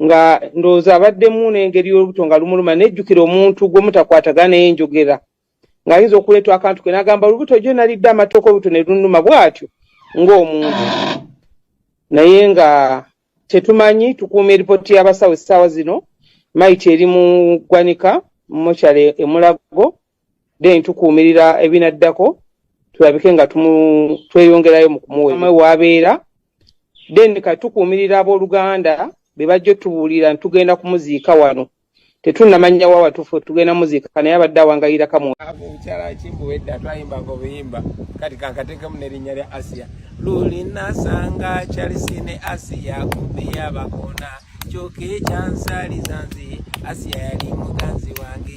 nga ndowooza abaddemu n'engeri y'olubuto nga lumuluma nejjukira omuntu gwe mutakwatagana naye njogera ng'ayinza okuleetwa akantu ke n'agamba olubuto gyo nalidde amatooka olubuto ne lunuma bw'atyo ng'omuntu naye nga tetumanyi tukuuma eripooti y'abasawo essaawa zino mayiti eri mu ggwanika mokyale emulago then tukuumirira ebinaddako tulabike nga tweyongerayo mu kumuwemwe waabeera then kati tukuumirira abooluganda be bajja otubuulira ntitugenda kumuziika wano tetunnamanya wa watufu tugenda muziika naye abadde awangayira kamukimbuwedda twayimbanga obuyimba kati kankatekemu nerinnya lya asiya lulinasanga kyalisine asiya kubeyabakoona kyoka ekyansalizanzi asiya yali muganzi wange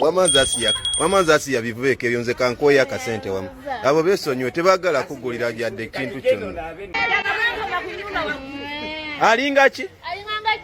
wamanza asiya wamanza asiya bivubeeka ebyo nze kankoya akasente wamu abo besonyiwe tebagala kugulira byadde ekintu kyonna alinga ki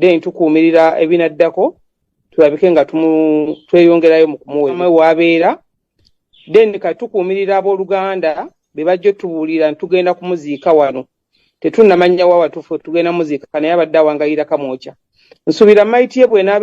then tukuumirira ebinaddako tulabike nga tweyongerayo mu kumuwemwe waabeera then kati tukuumirira abooluganda be bajja otubuulira ntitugenda kumuziika wano tetunnamanya wa watufu tugenda muziika naye abadde awangayira kamwokya nsuubira mayiti ye bwenaaba